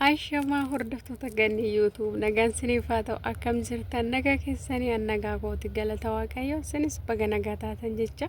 Ashamaa hordoftoota ganni YouTube nagaan siniif haa ta'u akkam jirtan nagaa keessanii an nagaa kooti galata waaqayyo sinis baga nagaa taatan jecha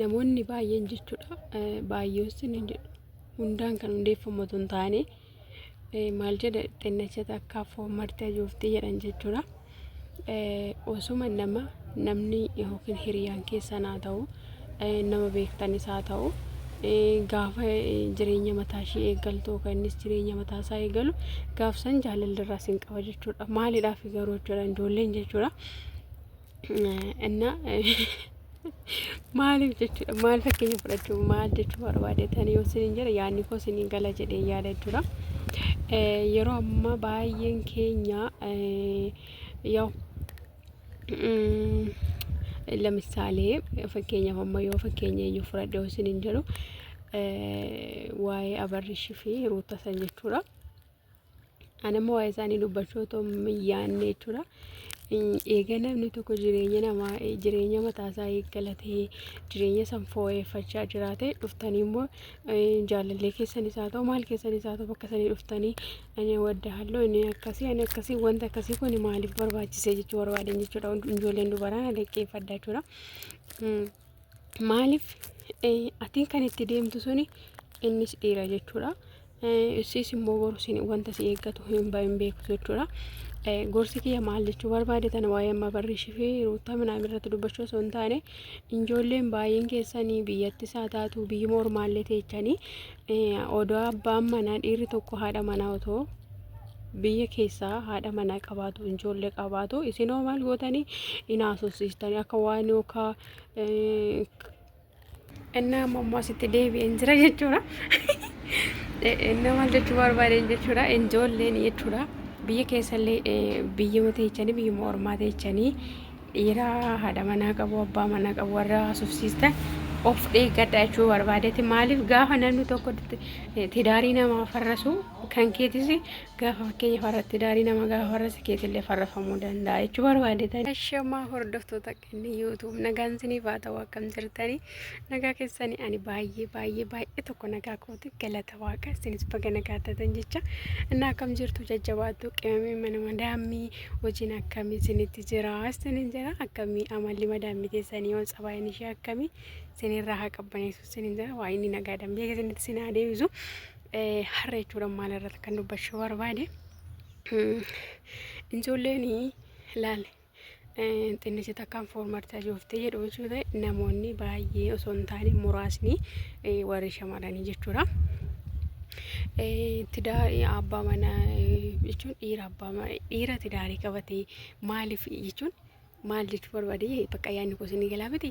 namoonni baay'een jechuudha baay'eessin hin jedhu hundaan kan hundeeffamu osoo hin taane maal jedha xinnachata akka foommartee jooftii jedhan jechuudha. Osuma nama namni yookiin hiriyaan keessan haa ta'u nama beektanis haa ta'u gaafa jireenya mataa ishee eegaltu yookaan innis jireenya mataa isaa eegalu gaafsan jaalalli irraa sin qaba jechuudha. Maaliidhaaf garuu jechuudha ijoolleen jechuudha. እና maaliif jechuudha maal fakkeenya fudhachuu maal jechuu barbaadeetanii yoo siniin jedhe yaadni koo siniin gala jedhee yaada jechuudha. Yeroo ammaa baay'een keenya yoo ለምሳሌ fakkeenya amma yoo fakkeenya eenyu fudhadhe yoo siniin jedhu waa'ee abarrishii fi ruuta san jechuudha. Anammoo waa'ee isaanii dubbachuu otoo hin yaadne jechuudha. Eega namni tokko jireenya namaa jireenya mataasaa eeggalatee jireenya san fooyyeffachaa jiraate dhuftanii immoo jaalallee keessanis haa ta'u maal keessanis haa ta'u bakka sanii dhuftanii ani wadda halloo inni akkasii ani akkasii wanta akkasii kun maaliif barbaachisee jechuu barbaadan jechuudha ijoolleen dubaraa na dhaggeeffadha jechuudha. Maaliif atiin kan itti deemtu suni innis dhiira jechuudha. Issis immoo boru wanta si eeggatu hin bahin beeku jechuudha. Gorsi kiyya maal jechuu barbaade tana waa'ee amma barriishii fi ruuttaa minaan irratti dubbachuu osoo hin taane ijoolleen baay'een keessanii biyyattis haa taatu biyyuma ormaallee teechanii Odoo abbaan manaa dhiirri tokko haadha manaa otoo biyya keessaa haadha manaa qabaatu ijoollee qabaatu isinoo maal gootanii hin haasofsiistanii akka waan yookaan innaa ammoo asitti deebi'een jira jechuudha. Innaa maal jechuu barbaadeen jechuudha ijoolleen jechuudha biyya keessallee biyya teechanii biyyuma ormaa teechanii Dhiira haadha manaa qabu abbaa manaa qabu warra haasofsiistan of dheeggadha jechuu barbaadeti maaliif gaafa namni tokko tidaarii namaa farrasu kan keetis gaafa fakkeenya farra tidaarii nama gaafa farrasa keetillee farrafamuu danda'a jechuu barbaadetan. Ashamaa hordoftoota kenni YouTube nagaan isiniif haa ta'u akkam jirtanii nagaa keessanii ani baay'ee baay'ee baay'ee tokko nagaa kooti galata. galata waaqa isinis baga nagaa taatan jecha innaa akkam jirtu jajjabaattu qimamee mana madaammii hojiin akkamii isinitti jira isinin jira akkamii amalli madaammii teessanii yoo tsabaayeen ishee akkamii isinirraa haa qabbaneessu isinin jira waa inni nagaadhaan beeka isinitti isin haa deebisu Eh, har'a jechuudha maal irratti kan dubbachuu barbaade Mm, ijoolleen laale xinnichi takkaan foormarti ajoofte jedhu jechuudha. Namoonni baay'ee osoo hin taane muraasni warri shamarranii jechuudha. Tidaa abbaa mana jechuun dhiira abbaa mana dhiira tidaarii qabatee maaliif jechuun maal jechuu barbaadee bakka yaadni kuusinii galaa miti.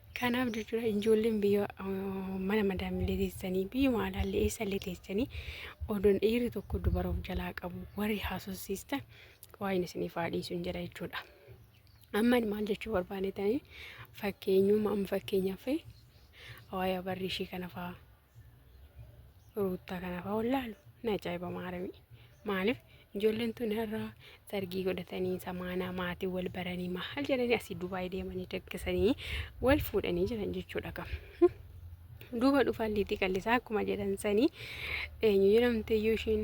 Kanaaf jechuudha ijoolleen biyya mana madaamillee teessanii biyyuma alaallee eessallee teessanii odoon dhiirri tokko dubara of jalaa qabu warri haasofsiistan waa'een isiniif haa dhiisuun jedha jechuudha. Amma maal jechuu barbaadetanii fakkeenyummaa amma fakkeenyaaf waa'ee abarrii ishii kana fa'aa ruuttaa kanaaf haa wallaalu na ajaa'iba maaramii maaliif ijoolleen tun har'a sargii godhatanii samaanaa maatii wal baranii maal jedhanii asii dubaay deemanii dakkisanii wal fuudhanii jiran jechuudha kam duuba dhufaan liitii qallisaa akkuma jedhan sanii eenyu jedhamte iyyuu ishiin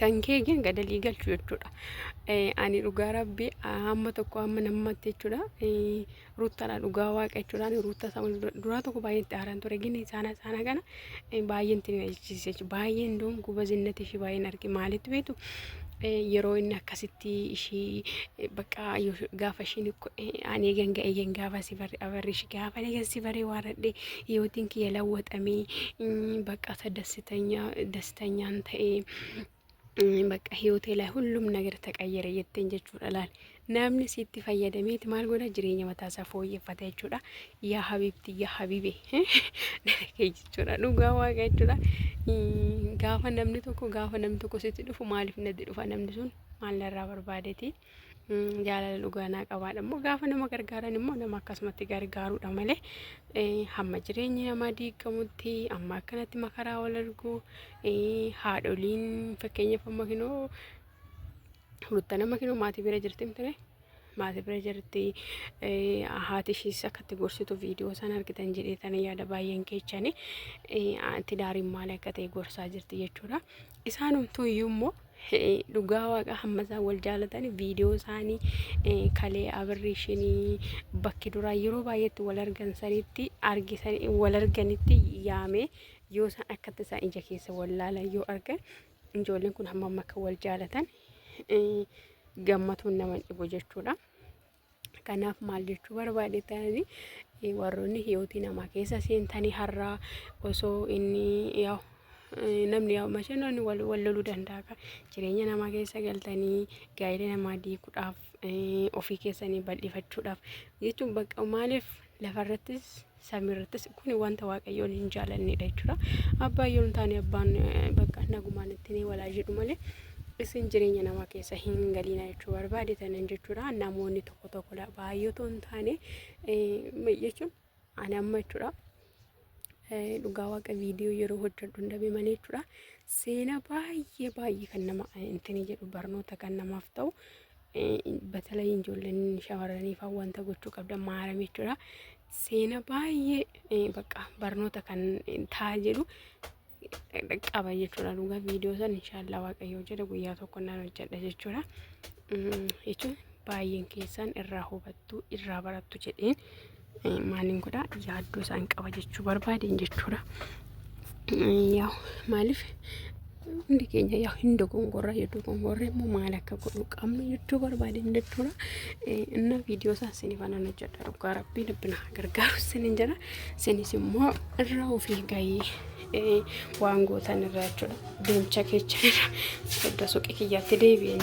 kan kee gin gadalii galchu jechuudha. Ani dhugaa rabbi hamma tokko hamma nammatti jechuudha. Ruuttaadha dhugaa waaqa jechuudha. Ani ruutta sama duraa tokko baay'ee itti aaran ture gin isaana isaana kana baay'een itti nalchisiise jechuudha. Baay'een doon gubazinnati ishee baay'een arge maalitti beektu yeroo inni akkasitti ishii bakka gaafa ishiin ani eegan ga'e eegan gaafa si barre abarri ishii gaafa eegan si barre waaradhe yootiin kiyya lawwaxamee bakka isa dassitanya tanyaan ta'ee bakka hiyootee laa hullum nagar taqayyare jetteen jechuudha laal namni sitti fayyadameeti maal godha jireenya mataasaa fooyyeffata jechuudha yaa habiibti yaa habiibe kee jechuudha dhugaa waaqa jechuudha gaafa namni tokko gaafa namni tokko sitti dhufu maaliif natti dhufa namni sun maal narraa barbaadeeti jaalala dhugaa naa qabaadha immoo gaafa nama gargaaran immoo nama akkasumatti gargaaruudha malee hamma jireenyi namaa diigamutti amma akkanatti makaraa wal argu haadholiin fakkeenyaaf amma kinoo rutta nama kinoo maatii bira jirti mtire maatii bira jirti haati ishiis akkatti gorsitu viidiyoo isaan argitan jedhee tan yaada baay'een keechani tidaariin maal akka ta'e gorsaa jirti jechuudha isaanumtuu iyyuu immoo Dhugaa waaqa hamma isaan wal jaalatan viidiyoo isaanii eh, kalee abirriishinii bakki duraa yeroo baay'eetti wal argan sanitti argisan wal arganitti yaamee yoo isaan akkatti isaan ija keessa wal laalan yoo argan ijoolleen kun hamma amma akka wal jaalatan eh, gammatuun nama hin dhibu jechuudha. Kanaaf maal jechuu barbaade ta'anii warroonni hiyootii namaa keessa seentanii har'aa osoo inni yaa'u namni yaa'u mashee namni wal loluu danda'a. Jireenya namaa keessa galtanii gaa'ila namaa diiguudhaaf ofii keessanii bal'ifachuudhaaf jechuun bakka maaliif lafarrattis samiirrattis kun wanta waaqayyoon hin jaalannedha jechuudha. Abbaa yoo hin taane abbaan bakka nagumaan ittiin walaa jedhu malee isin jireenya namaa keessa hin galiina jechuu barbaade tanan jechuudha. Namoonni tokko tokkodha baay'eetu hin taane jechuun ani amma jechuudha. Dhugaa waaqa viidiyoo yeroo hojjedhu hin dhabe malee jechuudha. Seenaa baay'ee baay'ee kan nama ittiin jedhu barnoota kan namaaf ta'u. Batalai ijoolleen shamarraniif wanta gochuu qabdan maarame jechuudha. Seena baay'ee bakka barnoota kan ta'a jedhu qaba jechuudha. Dhugaa viidiyoo san inshaallah waaqayyoo jedha guyyaa tokko nan hojjedha jechuudha. Jechuun baay'een keessan irraa hubattu irraa barattu jedheen. maaliin godha yaaddoo isaan qaba jechuu barbaadeen jechuudha. Yaa maaliif hundi keenya yaa hin dogongorra yoo dogongorre immoo maal akka godhu qabnu jechuu barbaadeen jechuudha. Inna viidiyoo isaa isinii fanan hojjedha dhugaa rabbii rabbina haa gargaaru isinin jedha. Isinis immoo irra ofii gahii waan gootan irraa jechuudha. Deemcha keechan irra edda suqi kiyyaatti deebi'e.